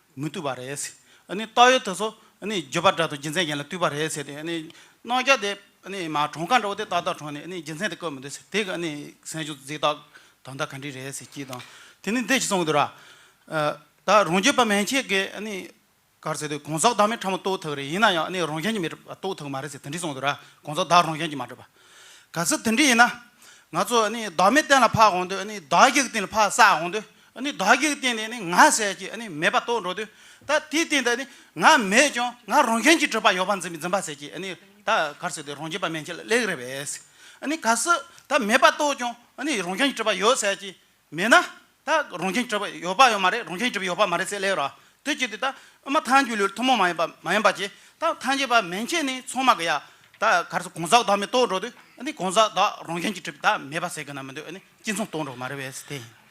མི་བཏུལ་བ་རེད། རྟགས་ཡོད་དེ་ཚོ་འགྱོད་པ་འདྲ་དང་རྒྱུ་མཚན་གཞན་ལ་བཏུལ་བ་རེད་ཟེར་ཏེ། གནང་རྒྱ་དེ་གྲོང་ཁ་འདྲ་བོ་དེ་ཏག་ཏག་གྲོངས་ནས་རྒྱུ་མཚན་དེ་བཀོད་མི་འདུག་ཟེར། དེ་ག་སེམས་ཤུགས་རྫིག་རྟགས་དོན་དག་ག་འདྲི་རེད་ཟེར་གྱིས་དང། དེ་ནི་འདི་ཞིག་གསུངས་གི་འདུག་ར། ད་རང་རྒྱུད་པ་མན་ཆད་ཀྱི་གར་ཟེར་དུས་གང་ཟག་བདག་མེད་ཕྲ་མོ་རྟོགས་ཐུབ་རེད་ཡིན་ན་ཡང་རང་གཞན་གྱི་མེད་པ་རྟོགས་ཐུབ་མ་རེད་ཟེར་དེ་འདྲི་གསུངས་འདུག་ར་གང་ཟག་བདག་རང་གཞན་གྱི་མ་གྲུབ་པ། ག་ཚོད་དེ་འདྲི་ཡིན་ན། ང་ཚོ་བདག་མེད་གཏན་ལ་ཕབ་འོང་དུས་བདག་གཞུག་གཏན་ལ་ཕབ་བསགས་འོང་དུས་བདག་གིར་བསྟན་ནས་ནི་ང་ཟད་ཀྱི་མེད་པ་རྟོགས་འགྲོ་དུས་ད་དེའི་སྟེང་དུ་ནི་ང་མེད་ཀྱང་ང་རང་གཞན་གྱི་སྤྲོས་པ་ཡོད་པ་འཛིན་པ་ཟད་ཀྱི་ད་གར་སོས་ཏེ་རང་རྒྱུད་པ་མན་ཆད་ལ་ལེགས་རེ་བས། གལ་སྲིད་ད་མེད་པ་རྟོགས་ཀྱང་རང་གཞན་གྱི་སྤྲོས་པ་ཡོད་ཟད་ཀྱི་མེད་ན་ད་རང་གཞན་གྱི་སྤྲོས་པ་ཡོད་པ་ཡང་མ་རེད་རང་གཞན་གྱི་སྤྲོས་པ་ཡོད་པ་མ་རེད་ཟེར་ལེ་རོ། དེ་བཅད་དེ་ད་ཨ་མ་ཐང་རྒྱུད་ལུས་ཐུན་མོང་མ་ཡིན་པ་མ་ཡིན་པ་ཅེས་ད་ཐང་རྒྱུད་པ་མན་ཆད་ནི་ཚང་མ་གི་ཡ་ད་གར་སོས་གང་ཟག་བདག་མེད་རྟོགས་འགྲོ་དུས་གང་ཟག་བདག་རང་གཞན་གྱི་སྤྲོས་པ་ད་མེད་པ་ཟེར་གི་ན་མི་འདུག་གཅིག་མཚུངས་རྟོགས་འགྲོ་མ་རེད་བས་དེ་ཡིན།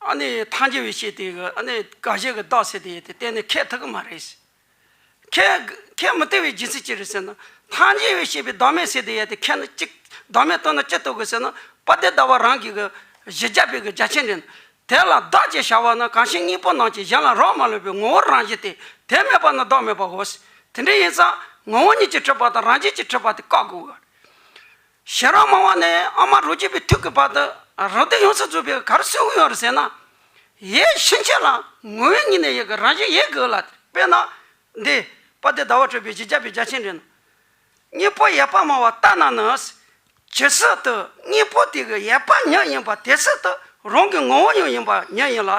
ཨ་ནི་ཐང་རྒྱལ་བས་བཤད་དེ་ཨ་ནི་དགའ་བཞད་གི་བདག་ཟེར་དེ་ཡོད་དེ་གཏན་ནས་ཁྱད་ཐུག་གི་མ་རེད། ཁྱད་ཁྱད་མི་ཐུག་བའི་རྒྱུ་མཚན་ཅི་རེད་ཟེར་ན། ཐང་རྒྱལ་བས་བཤད་པའི་བདག་མེད་ཟེར་དེ་ཡོད་དེ་ཁྱད་ནི་གཅིག་བདག་མེད་བཏོན་ན་ཅི་ཐུག་གི་ཟེར་ན་དཔའ་སྡེ་ཟླ་བ་རང་གི་གི་གཞི་རྒྱ་དཔེ་གི་རྒྱ་ཆེན་རེད། དེ་ལ་བདག་ཅེས་བྱ་བ་ན་གང་ཞིག་སྙིང་པོ་ནང་གི་གཞན་ལ་རག་མ་ལུས་པའི་ངོ་བོར་རང་བཞིན་ཏེ་དེ་མེད་པ་ན་བདག་མེད་པའོ། དེ་འདྲ་ཡིན་ཙང་ངོ་བོ་ཉིད་ཀྱིས་འཁྲུལ་པ་དང་རང་བཞིན་གྱིས་འཁྲུལ་པ་དེ་བཀག་དགོས། ཞེ་རག་མང་བ་ནི་ཨ་མ་རོ་རྒྱས་པའི་ཐུགས་ཀྱི་བར་དུ་རོ་སྟེ་ཡོངས་སུ་རྫོགས་པའི་གར་སོན་དབུལ་བར་ཟད་ན། ཡས་ཕྱིན་ཆད་ལ་ངུ་བའི་ཉིན་ནས་ཡི་གེ་རང་བཞིན་ཡས་གུ་ལ་དཔེར་ན། འདི། པ་སྟེ་ཟླ་བ་སྤྲོས་པའི་བཞི་བརྒྱ་པའི་བརྒྱ་བྱིན་དྲན། གཉིས་པོ་ཡས་པ་མང་བ་ལྟ་ན་ནི། ཇི་སྲིད་དུ་གཉིས་པོ་དེ་གི་ཡས་པ་ཉིད་ཡིན་པ་དེ་སྲིད་དུ་རང་གི་ངོ་བོ་ཉིད་ཡིན་པ་ཉིད་ཡིན་ལ།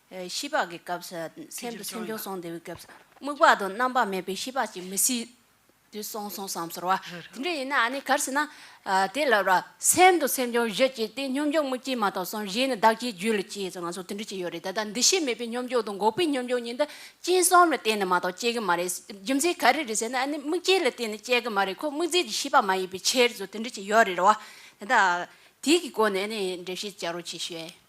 ཤི་བག་གི་སྐབས་སུ་སེམས་དུ་སེམས་བྱུང་སོང་དེ་བས་སྐབས་སུ་རྨུགས་བག་དང་རྣམ་པར་མེད་པའི་ཤི་བག་ཅིག་མི་སྲིད་དུ་སོང་སོང་བསམ་ཟོར་བ། དེ་འདྲ་ཡིན་ན་ནི་གར་སྲིད་ན། དེ་ལ་བར་སེམས་དུ་སེམས་བྱུང་བཞི་སྐྱེས་ཏེ་སྙོམས་འཇུག་མུ་གྱིས་མ་གཏོགས་སོང་གཞན་ནི་བདག་ཅེས་རྒྱུད་ལ་སྐྱེས་སོང་ང་སོང་དེ་འདྲ་ཅི་ཡོད་རེད་ད་ལྟ་འདི་ཤེས་མེད་པའི་སྙོམས་འཇུག་དང་འགོག་པའི་སྙོམས་འཇུག་གཉིས་འདི་སྤྱིན་གསུམ་ལ་བརྟེན་ནས་མ་གཏོགས་སྐྱེ་གི་མ་རེད་རྒྱུ་མཚན་ག་རེ་རེད་ཟེར་ན་ནི་རྨུགས་བྱེད་ལ་བརྟེན་ནས་སྐྱེ་གི་མ་རེད་ཁོ་རྨུགས་རྫས་ཀྱི་ཤི་བག་མ་ཡིན་པའི་ཕྱིར་དེ་འདྲ་ཅི་ཡོད་རེད་བ། ད་ལྟ་དེའི་གི་སྒོ་ནས་ནི་འགྲེལ་བཤད་བྱ་རོགས་ཅིག་ཞུ་ཨེ།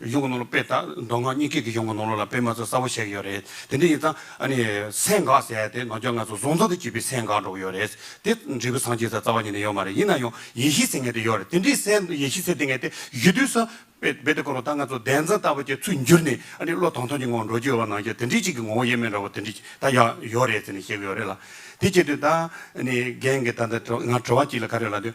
གཞུང་གི་ནང་ལོགས་དཔེ་དང་མདོ་སྔགས་གཉིས་ཀས་ཀྱི་གཞུང་གི་ནང་ལོགས་ལ་དཔེ་མ་ཚད་གསལ་བོ་བཤད་ཀྱི་ཡོད་རེད་དེ་འདྲ་ཡིན་ཙང་ཨ་ནི་སེང་འགག་ཟེར་ཡ་དེ་ནང་ཆོས་ལྔ་སོ་གཟུང་ཚང་དུ་བྱས་པའི་སེང་འགག་འགྲོ་གི་ཡོད་རེད་དེ་འབྲས་བུ་སངས་རྒྱས་སར་རྩ་བ་ཉིད་ནས་ཡོད་མ་རེད་ཡིན་ན་ཡང་ཡེ་ཤེས་ཟེར་ངེས་དེ་ཡོད་རེད་དེ་འདྲའི་སེང་ཡེ་ཤེས་ཟེར་དེ་ངེས་དེ་ཡོད་དུས་སུ་རྦད་དེ་ཁོ་རང་ད་ང་ཚོ་བདེན་འཛིན་ལྟ་བུ་ཅིག་ཚུར་འགྱུར་ནས་ཨ་ནི་བློ་ཐང་ཐང་གྱི་ངང་འགྲོ་རྒྱུ་ཡོད་པ་ནང་བཞིན་དེ་འདྲའི་ཅིག་གི་ངོ་བོ་དབྱེར་མེད་འདྲ་བོ་དེ་འདྲ་ཅིག་ད་ཡང་ཡོད་རེད་ཟེར་ནས་བཤད་ཀྱི་ཡོད་རེད་ལ་དེ་བྱས་དུས་ད་ཨ་ནི་རྒན་གྱི་ད་ང་དྲི་བ་ཅིག་ལ་ག་རེ་ལ་དུས།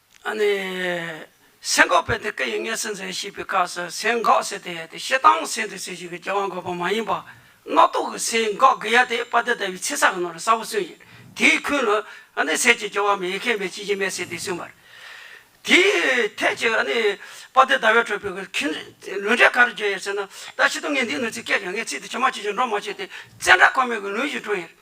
ཨ་ནི། སེན་འགག་པའི་དེ་ཀ་ཡིག་ངེས་ཟིན་ཟེར་ཞེས་པའི་སྐབས་སུ་སེན་འགག་ཟེར་དེ་ཡ་དེ་ཤེལ་དང་སེན་དུ་ཟེར་ཞིག་གི་སྐྱེ་བ་འགག་པ་མ་ཡིན་པ། རྣག་ཐོག་གི་སེན་འགག་གི་ཡ་དེ་པ་དེ་ལྟ་བུའི་ཚེ་ས་གི་ནང་ལ་ས་བོ་སོན་ཞིང་དེའི་ཁུན་ལ་ཨ་ནི་ཟས་ཀྱི་སྐྱེ་བ་མེད་ཡེ་ཁེན་མེད་ཅི་བཞིན་མེད་ཟེར་དེ་སོན་པར། དེའི་ཐད་ཀྱི་ཨ་ནི། པ་དེ་ཟླ་བའི་ཁྲོད་པའི་ཁུན། ལུས་འབྲས་ག་རུ་གྱུར་ཡོད་ཟེར་ན། ད་ཕྱི་སྟོང་ངེས་འདིའི་ནུས་ཚིག་སྐད་ཀྱང་ངེས་ཚིག་དེ་ཆོས་མ་ཆོས་ཀྱི་འགྲོ་མ་བྱས་ཏེ། བཙན་དྲག་ཁོ་མེད་ཀྱི་ལུས་བཞིན་གྲོལ་ཡོད།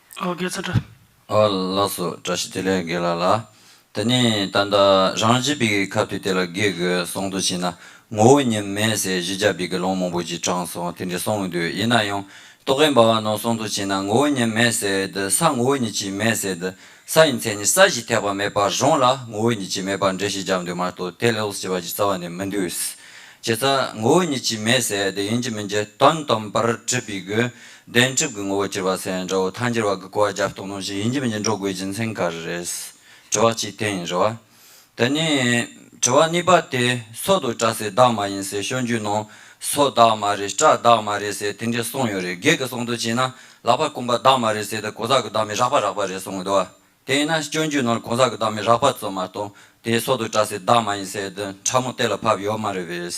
ཨོ་དགེ་རྩེ་དགྲ། ཨོ་ལགས་སོ་དགྲ་ཞིག་དེ་ལས་དགེ་ལ་ལ། དེ་ནས་ད་ལྟ་རང་གཞི་བི་གིའི་ཁབ་དེ་དེ་ལ་དགེ་དགོས་གསུང་དུ་ཕྱིན་ན་ངོ་བོ་ཉིད་མེད་ཟེར་གཞི་རྒྱ་བི་གི་ལོང་མང་པོ་ཅིག་དྲངས་སོང་དེ་འདྲས་གསུང་འདུག་ཡིན་ན་ཡང་རྟོག་གེ་འབའ་བ་ནང་གསུང་དུ་ཕྱིན་ན་ངོ་བོ་ཉིད་མེད་ཟེར་དེ་ས་ངོ་བོ་ཉིད་ཅིག་མེད་ཟེར་དེ་ས་ཡི་མཚན་ནི་ས་གཞི་ཐེག་པ་མེད་པར་རང་ལ་ངོ་བོ་ཉིད་ཅིག་མེད་པར་འགྲེལ་བཤད་རྒྱབ་འདུག་མ་གཏོགས་དེ་ལས་ལོགས་བྱེད་པ་ཅིག་རྩ་བ་ནས་མི་འདུག་བྱས་ཙང་ངོ་བོ་ཉིད་ཅིག་མེད་ཟེར་དེ་ཡིན་གྱི་མིན་གྱི་དོན་དམ་པར་དྲིས་བི་གིའི་བདེན་གྲུབ་ཀྱི་ངོ་བོ་གྱུར་པ་སེང་སྒྲོ་བོ་ཐང་འགྱུར་བ་གི་གོ་བ་རྒྱབ་གཏོགས་གནང་བཞིན་ཡིན་གྱི་མིན་གྱི་འགྲོ་དགོས་རྒྱུ་མཚན་ག་རེ་རེད། དྲི་བ་གཅིག་དེ་ཡིན་རེད་བ། དེ་ནས། དྲི་བ་གཉིས་པ་དེ། སྲོག་དུ་བཀྲ་སའི་བདག་མ་ཡིན་ཟེར་ཤོག་རྒྱུད་ནང། སྲོག་བདག་མ་རེད་བཀྲ་བདག་མ་རེད་ཟེར་དེ་འདྲའི་གསུངས་ཡོད་རེད་སྒེར་གྱི་གསུང་དོན་བྱས་ན། ལག་པ་བསྐུམ་པ་བདག་མ་རེད་ཟེར་དེ་གང་ཟག་གི་བདག་མེད་རགས་པ་རགས་པ་རེད་གསུངས་ཡོད་བ། དེ་ཡིན་ན་སྤྱོད་འཇུག་ནང་གང་ཟག་གི་བདག་མེད་རགས་པ་ཙམ་མ་གཏོགས་དེ་སྲོག་དུ་བཀྲ་སའི་བདག་མ་ཡིན་ཟེར་དེ་ཕྲ་མོ་གཏད་ལ་ཕབ་ཡོད་མ་རེད་བས།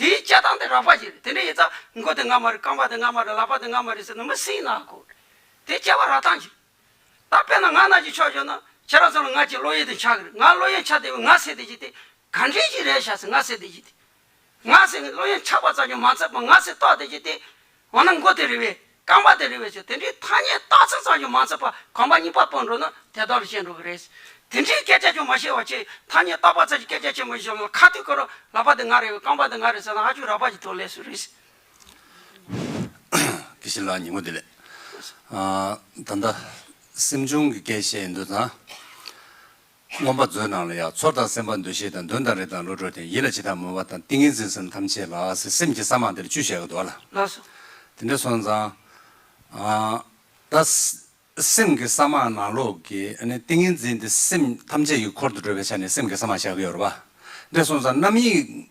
དེའི་སྤྱད་སྟངས་དེ་རགས་པ་ཞིག་རེད་དེ་འདྲའི་ཡིན་ཙང་མགོ་དེ་ང་མ་རེད་རྐང་པ་དེ་ང་མ་རེད་ལག་པ་དེ་ང་མ་རེད་ཟེར་ན་མི་སྲིད་ན་གོ། དེ་སྤྱད་པ་རགས་སྟངས་ཞིག་རེད། ད་དཔེར་ན་ང་ན་གྱི་ཕྱོགས་ཞོག་ན་ཁྱེད་རང་ཚོ་ལ་ང་ཅིག་བློ་ཡུལ་དེ་འཆའ་གི་རེད་ང་བློ་ཡུལ་འཆའ་བདེ་བའི་ང་ཟེར་བདེ་ཞིག་དེ་ག་འདྲས་ཞིག་རེད་བྱ་ཟེར་ང་ཟེར་བདེ་ཞིག་དེ། ང་ཟེར་བློ་ཡུལ་འཆག་པ་ཙམ་གྱིས་མ་ཚད་པར་ང་ཟེར་རྟོགས་བདེ་ཞིག་དེ། འོ་ན་མགོ་དེ་རེད་བས་རྐང་པ་དེ་རིང་བའི་ཆུ་དེ་འདྲའི་ཐ་སྙད་རྟགས་མཚན་ཙམ་ཞིག་མ་འཚོལ་བར་གོམ་པ་གཉིས་པ་སྤོ་འགྲོ་ན་དེ་ལྟར་བཤད་འགྲོ་གི་རེད། དེ་འདྲའི་སྐད་ཆ་ཅུང་མ་བཤད་བར་ཆེས་ཐ་སྙད་རྟགས་པ་ཙམ་གྱི་སྐད་ཆ་ཆེན་པོ་ཞིག་བཤད་ན་ཁ་ཐུག་གི་རོ་ལག་པ་འདི་ང་རེད་རྐང་པ་འདི་ང་རེད་ཟེར་ན་ཨ་ཆུ་རག་པ་ཞིག་ཐོན་ལེ་སུ་རེད། ཀི་ཤིན་ལགས་ཉིན་མོ་བདེ་ལེགས། ད་ལྟ་སེམས་ཆུང་གི་སྐད་བཤད་འདོད་ན། མངོན་པ་མཛོད་ནང་ལ་ཡང་ཚོར་དང་སེམས་པ་འདུ་ཤེས་དང་འདུན་དང་རེ་དང་བློ་གྲོས་དང་ཡིད་ལ་བྱེད་དང་མོས་པ་དང་ཏིང་ངེ་འཛིན་གསུམ་ཐམས་ཅད་ལ་སེམས་ཀྱི་ས་མང་དེར་བཅུ་ཞེས་བསྒོ་ལ། དེ་འདྲའི་སོང་ཙང། ད་སེམས་ཀྱི་ས་མང་ནང་ལོགས་ཀྱི་ཏིང་ངེ་འཛིན་དེ་སེམས་ཐམས་ཅད་ཀྱི་འཁོར་དུ་འགྲོ་བའི་ཆ་ནས་སེམས་ཀྱི་ས་མང་བཞག་གི་ཡོད་རེད་པ། འདྲའི་སོང་ཙང་རྣམ་གཡེང་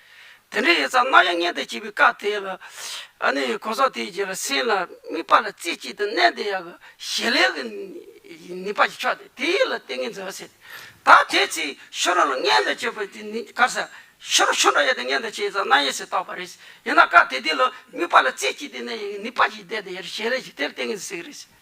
དེ་འདྲའི་ཡོད་ཙང་རྣ་བྱང་སྙན་དུ་བྱས་པའི་བཀའ་དེ་ལ། ཨ་ནི་གོ་ས་དེའི་རྗེས་ལ་སེམས་ལ་དམིགས་པ་ལ་རྩེ་གཅིག་ཏུ་གནས་དེ་ཡང་གཞན་ལས་ཀྱི་ནུས་པ་ཞིག་ཆགས་ཏེ་དེ་ཡིད་ལ་ཏིང་ངེ་འཛིན་བསྲེས་ཏེ། ད་དེའི་ཚེ་ཤོ་རོ་ལ་སྙན་དུ་བྱས་པ་དེ་ནི་གར་ས་ཤོ་རོ་ཤོ་འདྲ་ཡོད་དེ་སྙན་དུ་བྱས་ཙང་རྣ་གཡས་སུ་བཏགས་པ་རེད། ཡིན་ན་བཀའ་དེ་དེ་ལ་དམིགས་པ་ལ་རྩེ་གཅིག་ཏུ་གནས་ཡིན་གྱི་ནུས་པ་ཞིག་ལྡན་དེ་ཡང་གཞན་ལས་ཀྱི་དེར་ཏིང་ངེ་འཛིན་བསྲེས་རེད།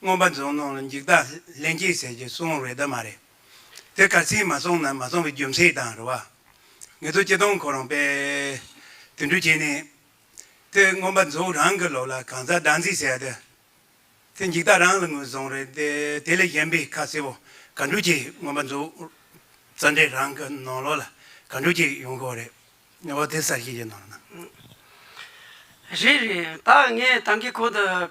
སྔོན་པ་འཛུགས་གནང་ལ་འཇིག་ལྟ་ལན་གཅིག་ཟེར་གྱི་སོང་རེད་དཱ་མ་རེད། དེ་ག་ཚིག་མ་སོང་ན་མ་སོང་གི་རྒྱུ་མཚན་དང་རེད་བ། ངེད་ཚོ་སྤྱི་སྟོང་ཁོ་རང་པས་དུད་འགྲོ་བྱས་ནས། དེ་སྔོན་པ་འཛུགས་རང་གི་ལོག་ལ་གང་ཟག་སྡང་ཟིག་ཟེར་དཱ། དེ་འཇིག་ལྟ་རང་ལ་ངོས་བཟུང་རེད་དེ་དེ་ལས་གཞན་པའི་ཁ་གསལ་བོ་ག་འགྲོ་ཅིག་སྔོན་པ་འཛུགས་རྩ་འགྲེལ་རང་གི་ནང་ལོག་ལ་ག་འགྲོ་ཅིག་ཡོང་ཁོ་རེད། ཨོ་དེ་གསར་ཤེས་ཀྱི་ནང་ན། རེད་རེད་ད་ངས་དང་གི་ཁོ་དང་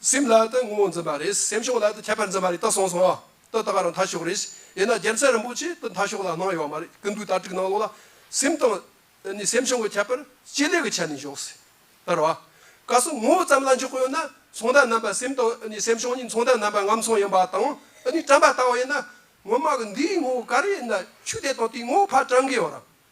སེམས་ལ་དུ་ངོ་བོ་འཛིན་པ་རེད། སེམས་ཕྱོགས་ལ་དུ་ཁྱད་པར་འཛིན་པ་རེད་དུ་གསུངས་སོང། དུ་ད་ག་རང་འཐའ་ཕྱོགས་རེད། དབྱེ་ན་རྒྱལ་མཚན་རིན་པོ་ཆེས་དུ་འཐའ་ཕྱོགས་ལ་གནང་ཡོད་མ་རེད་ཀི་འདུག་ད་དྲུག་ནང་ལོགས་ལ། སེམས་དང། ནི་སེམས་ཕྱོགས་ཀྱི་ཁྱད་པར་སྤྱི་ལེ་གི་ཆ་ནས་འཇོག་སྲིད། ལར་བ། ག་སོ་ངོ་བོ་ཙམ་ལ་འཇོག་གི་ཡོད་ན། ཚོང་རྟགས་རྣམ་པ་སེམས་དང་ནི་སེམས་ཕྱོགས་གཉིས་ཚོང་རྟགས་རྣམ་པ་ངམ་ཚོང་ཡིན་པ་དང། ནི་བཀྲམ་པ་ལྟ་བུ་ཡིན་ན། ངོ་མ་གི་འདིའི་ངོ་བོ་ག་རེ་ཡིན་ན་ཆུ་དེ་དང་དེའི་ངོ་བོ་ཕར་བཀྲམ་གི་ཡོད་རང།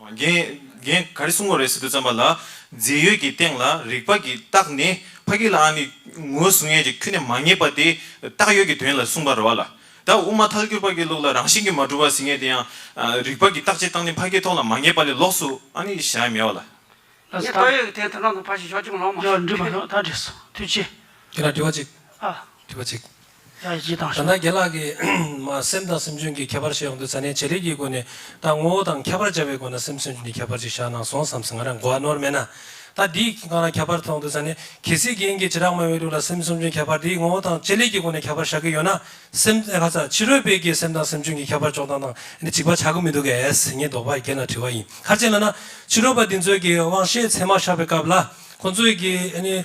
རྒན། ག་རེ་གསུང་བ་རེད་ཟེར་དུས་བརྩམས་པ་ལ། རྫས་ཡོད་ཀྱི་སྟེང་ལ་རིགས་པ་ཀྱི་རྟགས་ནི་ཕ་གི་ལ་ཨ་ནི་ངོ་སྲུང་ཡས་ཀྱི་ཁྱུ་ནས་མ་ངེས་པ་དེ་རྟགས་ཡོད་ཀྱི་དོན་ལ་གསུང་པར་རོ་ལ། ད་དབུ་མ་ཐལ་འགྱུར་པ་གི་ལུགས་ལ་རང་བཞིན་གྱི་མ་གྲུབ་པ་ཟིན་ངེས་དེ་ཡང། རིགས་པ་ཀྱི་རྟགས་ཀྱི་རྟགས་ནི་ཕ་གི་ཐོག་ལ་མ་ངེས་པ་ལས་ལོགས་སུ་ཨ་ནི་གཞག་ཡ་མེད་བ་ལ། ངས་རྟགས་ཡོད་ཀྱི་དེའི་དོན་དང་དུ་ཕ་ཞེས་ཞོག་ཅིག་མ་ལོང་མ་ཞོག། ཡོད་འདྲི་མ་ཞོག་ད་བྲིས་སོ་དུས་ཆེ། ཁྱེད་རང་དྲི་བ་གཅིག། ཨ། དྲི་བ་གཅིག། ཡང་ཡིད་དང་ཞུ། ད་ནངས་རྒན་ལགས་ཀྱིས་སེམས་དང་སེམས་འཇུན་གྱི་ཁྱད་པར་བཤད་ཡོང་དུས་ས་གནས་བྱེད་རིགས་ཀྱི་སྒོ་ནས་ད་ངོ་བོ་དང་ཁྱད་པར་འཇལ་བའི་སྒོ་ན་སེམས་སེམས་འཇུན་གྱི་ཁྱད་པར་ཅིག་བཞག་གནང་སོང་བསམ་སེ་ང་རང་གོ་བ་ནོར་མེད་ན། ད་འདིའི་སྒང་ལ་ཁྱད་པར་མཐོང་དུས་ས་གནས་གལ་སྲིད་རྒན་གྱིས་ཇེ་དྲག་མ་ཡོང་དུས་ལ་སེམས་སེམས་འཇུན་ཁྱད་པར་འདི་ངོ་བོ་དང་བྱེད་ལས་ཀྱི་སྒོ་ནས་ཁྱད་པར་བཞག་གི་ཡོད་ན་སེམས། ཧ་ཚ་ཕྱི་རོལ་པའི་གིས་སེམས་དང་སེམས་འཇུན་གྱི་ཁྱད་པར་འཇོག་སྟངས་དང་འདི་གཅིག་པ་ཆགས་ཀྱི་མི་འདུག་གས་ངས་དོགས་པ་རྒན་ལ་དྲི་བ་ཡིན་ཁར་བྱས་ལ་ན། ཕྱི་རོལ་པ་འདི་ཚོས་ཀྱིས་དབང་ཤེད་ཚད་མ་བཞག་པའི་སྐབས་ལ་ཁོང་ཚོས་ཀྱིས།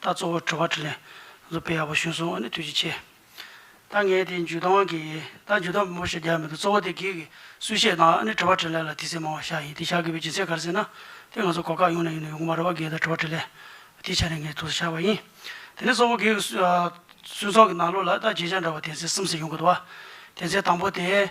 ད་གཙོ་བོ་དྲི་བ་དྲི་ལན་རུ་པེ་ཡག་པོ་ཞུས་སོང་ཨ་ནི་དུས་ཀྱི་ཆེ། ད་ངས་དེ་འཇུ་དང་གི་ད་འཇུ་དང་མོ་ཞེས་རྒྱག་མི་འདུག་གཙོ་བོ་དེ་གིས་གིས་སུས་བཤད་དང་ཨ་ནི་དྲི་བ་དྲི་ལན་ལ་དུས་ཚེས་མང་བ་ཤག་ཡིན་དེ་ཤག་གི་བའི་འཇུ་ཚེས་ག་རེ་ཟེར་ན་དེ་ང་ཚོ་གོ་སྐབས་ཡོང་ནས་ཡོང་ནས་ཡོང་གི་མ་རེད་བ་གིས་ད་དྲི་བ་དྲི་ལན་དེ་བྱས་ནས་ངས་ཐུགས་སུ་ཤར་བ་ཡིན། དེ་ནས་གཙོ་བོ་གིས་གིས་སུས་ཚོགས་ཀྱི་ནང་ལོགས་ལ་ད་བརྗེད་བྱ་འདྲ་བ་དེ་ཚེས་གསུམ་ཟེར་ཡོང་གི་འདུག་བ་དེ་ཚེས་དང་པོ་དེ།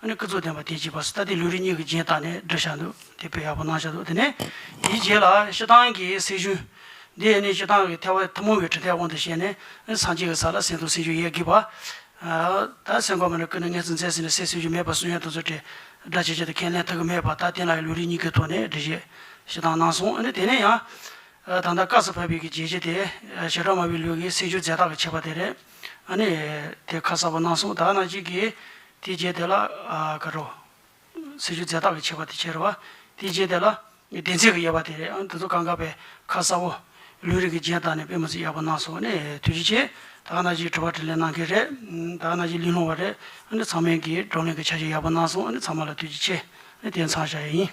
ཨ་ནི་སྐུ་རྫོགས་ལྡན་པ་དེས་བགྱིས་པ་སི་ཏཱ་ཏི་ལུས་རིགས་གཉིས་ཀྱི་རྗེས་བཏགས་ནས་སྒྲ་བྱ་འདུག་དེ་དཔེ་ཡག་པོ་གནང་བཞག་འདུག་དེ་ནས་དེའི་རྗེས་ལ་ཤི་ཏང་གི་སྲས་ཆུང། འདི་ཡས་ནི་ཤི་ཏང་གི་ཐལ་བ་ཐུན་མོང་བའི་གྲི་ཐལ་དབང་དུ་བྱས་ནས་སངས་རྒྱས་ཀྱི་ས་ལ་སེང་དང་སེང་ཆུང་གཡས་བགྱིས་པ། ད་སེང་གོ་མ་ནི་སྐུ་ནི་མངལ་ཚུན་མཛད་ཟིན་ནས་སྲས་སེང་ཆུང་མེད་པར་གསུང་ཡན་དང་ཟུར་བྲལ་སྒྲ་བྱེད་བྱེད་དུ་ཁས་ལེན་ཐུགས་ཀྱི་མེད་པར་ད་བསྟན་ལ་ཡང་ལུས་རིགས་གཉིས་ཀའི་ཐོག་ནས་འདྲི་བཞེས་ཤི་ཏང་གནང་སོང་ཨ་ནི་དེ་ནས་ཡང། ད་ལྟ་སྐབས་སུ་བབས་པའི་གི་རྗེས་བྱེད་དེ་ཞེ་དྲག་མ་བུའི་ལུས་ཀྱི་སེང་ཆུང་རྫས་རྟགས་ཀྱི་བྱེད་པ་དེ་རེད། ཨ་ནི་དེ་ཁ་གསལ་པོ་གནང་སོང་ད་ནང་བཞིན་གྱི། དེའི་རྗེས་དེ་ལ། ཀ་རོ། ཟེར་རྒྱུ་རྫས་རྟགས་ཀྱི་བྱེད་པ་དེ་བྱེད་རོལ་བ། དེའི་རྗེས་དེ་ལ། བདེན་ཚིག་གི་དབྱེ་བ་དེ་རེད་ཨང་དེ་ཚོ་གང་ག་པའི་ཁ་གསབ་བོ། ལུས་རིགས་ཀྱི་རྗེས་དང་ནི་དཔེ་མི་ཚིག་ཡག་པོ་གནང་སོང་ནི་ཐུགས་རྗེ་ཆེ། ད་ག་ན་གཞིས་དྲི་བ་དྲིས་ལན་གནང་མཁན་རེད། ད་ག་ན་གཞིས་གླིང་སློང་བ་རེད། ཨ་ནི་ཚང་མས་ཀྱིས་བགྲོ་གླེང་གི་བྱ་བཞག་ཡག་པོ་གནང་སོང་ཨ་ནི་ཚང་མ་ལ་ཐུགས་རྗེ་ཆེ། ཨ་ནི་དེ་འཚང་བྱ་ཡ་ཡིན།